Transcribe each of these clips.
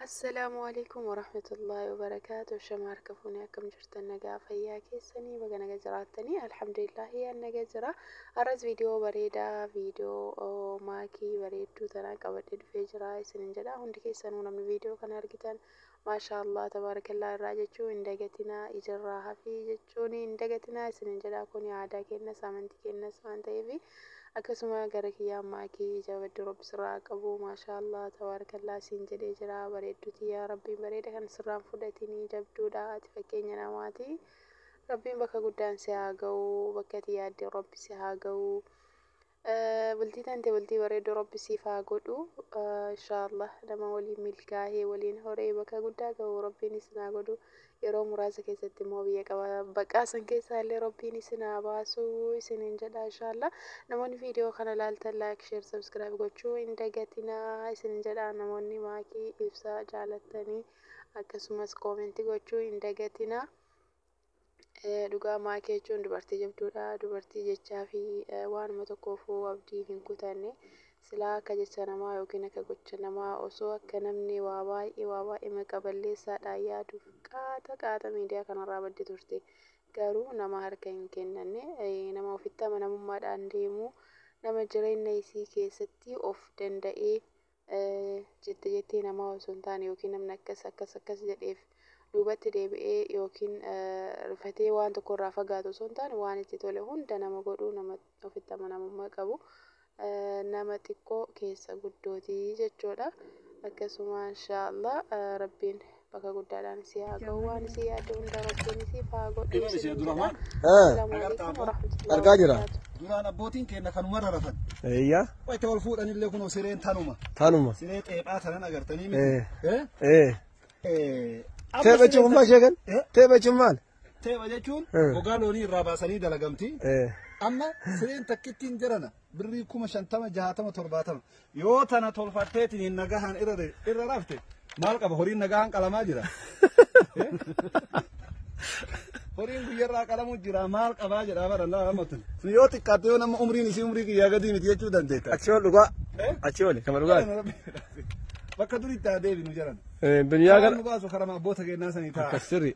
Assalaamu alaikum warahmatullahi wabarakaatu shama harka fuunee akkam jirtan nagaa fayyaa keessanii baga naga jiraattanii alhamdulillahi an naga jira arras viidiyoo bareedaa viidiyoo maakii bareedduu tanaa qabadhe dhufee jira isinin jedha hundi keessanuu namni viidiyoo kana argitan maashaallah tabaarakallaa irraa jechuu hin dagatinaa ijarraa hafii jechuun hin dagatinaa isinin jedha kuni aadaa keennas amantii keennas waan ta'eefi Akkasuma gara kiyyaa maaki jabadhu rabbi sirraa haa qabu mashallah tabarkallah siin jedhee jiraa bareeddu tiyyaa rabbiin bareeda kan sirraan fudhatinii jabduudha ati fakkeenya namaati rabbiin bakka guddaan si haa gahu bakka ati yaadde rabbi si haa gahu bultii tante bultii bareeddu rabbi siif haa godhu inshallah nama waliin milkaahee waliin horee bakka guddaa gahu rabbiin isin haa godhu yeroo muraasa keessatti immoo biyya qaba baqaa san keessaa illee rabbiin isin haa baasu isiniin jedha inshaallaa namoonni viidiyoo kana ilaaltan laayik sheer sabskiraayib gochuu hin dagatinaa isiniin jedha namoonni maakii ibsaa jaalattanii akkasumas koomentii gochuu hin dagatinaa Eh, dhugaa maakii jechuun dubartii jabduudha dubartii jechaa fi eh, waanuma tokkoofu abdii hin kutanne Silaa akka jecha namaa yookiin akka gocha namaa osoo akka namni waa baay'ee waa baay'ee maqa balleessaadhaan yaaduuf qaata qaata miidiyaa kanarraa baddi turte. Garuu nama harka hin kennanne, nama ofitti amanamummaadhaan deemu, nama jireenya isii keessatti of danda'ee jette jettee namaa osoo hin taane yookiin namni akkas akkas akkas jedheef duubatti deebi'ee yookiin rifatee waan tokkorraa fagaatu osoo hin taane waan itti tole hunda nama godhu nama ofitti amanamummaa qabu nama xiqqoo keessa guddooti jechuudha. Akkasuma inshaa Allah rabbiin bakka guddaadhaan si haa gahu waan isii yaadde hunda rabbiin isiif haa godhu Eebame isiniin jedha. Abdurrahmaan. Assalaamu Agar alaikum taatu. warahmatullahi Argaa jira. wabarakaatuh. Duraan abbootiin keenya kanumarra rafan. Eeyyaa. Wayita wal fuudhanillee kunoo sireen tanuma. Tanuma. Siree xeephaa tanan agartanii miti. Eh. Eh? Eh. Eh. Amma Teepha sireen cufummaa tan- sheekan? Eh? Teepha cufummaan? Teepha jechuun Eh. gogaa loonii irraa baasanii dalagamti. Eh. Amma sireen takkittiin jarana birrii kuma shantama jahatama torbaatama yoo tana tolfatteetiin hin nagahaan irra de- irra rafte maal qaba horiin nagahaan qalamaa jira. Eh? Horiin guyyarraa qalamuu jira maal qabaa jedhaa bara laa ammatun. Sun yoo xiqqaatte yoo nama umriin isii umrii kiyyaa gadii miti jechuu dandeetta. Achi ol dhugaa. Eh? Achi ol kama dhugaa. Bakka duritti haa deebinu jaran. Eh, Duniyaa Yaa gara. nu baasu karama abboota keenyaa sanii ta'a. Sirri.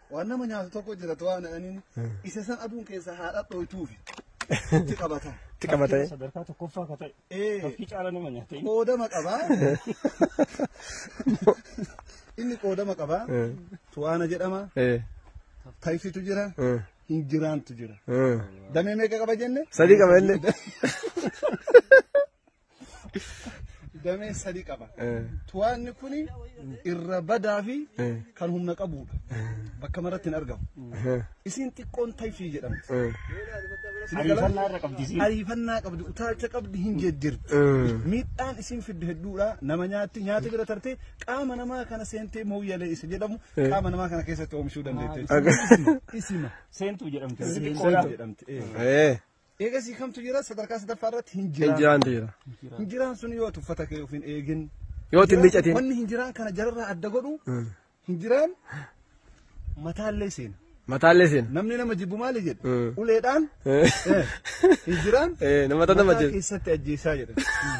Waan nama nyaatu tokko jira too waan jedhaniin isa san aduun keessaa haa dhadhooytuufi itti qabata. Itti qabatee. Sadarkaa tokkoffaa ka ta'e. Ee Tafkii caala nama nyaata. qoodama qaba. Inni qoodama qaba. Tu'aana jedhama. Eh, Tayfitu jira. eh, Hinjiraantu jira. eh. Damee meeqa qaba jenne? Sadii qaba inni. damee sadii qaba. Tuwaanni kun irra badaa fi kan humna qabudha. Bakka maratti hin argamu. Isiin xiqqoon tayfii jedhamti. Ariifannaa irra qabdi isiin. Ariifannaa qabdi, utaalcha qabdi hin jeddirti. Miidhaan isiin fiddu hedduudha. Nama nyaatti, nyaata bira tartee qaama namaa kana seentee mooyyalee isa jedhamu qaama namaa kana keessatti oomishuu dandeetti. Isima. Seentuu jedhamti. Seentuu jedhamti. Eegasii kamtu jira sadarkaa sadaffaa irratti hin jiraan. Hin jiraan jira. Hin jiraan sun yoo tuffata kee ofiin eegin. Yoo itti miicatiin. Wanni hin jiraan kana jararraa adda godhu hin jiraan mataallee seena. Mataallee seena. Namni nama jibbu maali jedhu uleedhaan hin jiraan nama nama mataa keessatti ajjeesaa jedhan.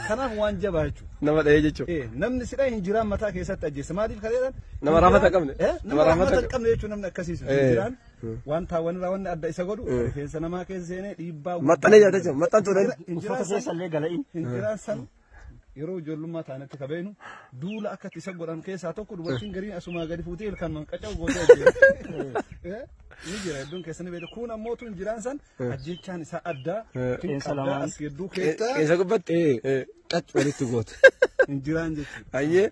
Kanaaf waan jabaa jechuudha. Nama dhahee jechuudha. Namni sidha hin jiraan mataa keessatti ajjeessa maaliif kaleedhaan. Nama raafata qabne. Nama raafata qabne jechuun namni akkasiisu hin jiraan. Wanta wanirraa wanni adda isa godhu rifeensa namaa keessa seenee dhiibbaa Maxxanee nyaata jechuudha. Maxxantuu dha. Uffata keessa illee gala'in. Hinjiraan san yeroo ijoollummaa taanetti ka beeknu duula akka itti isa godhan keessaa tokko dubartiin gariin asumaa gadi fuutee ilkaan man qaca'u gootee ajjeera. Ni jira hedduun keessanii beektu. Kun ammoo tun jiraan san ajjechaan isaa addaa. Qeensa lamaan. As gidduu keessaa Isa gubbatti xaxxu walitti gootu. hinjiraan jechuudha. Ayyee.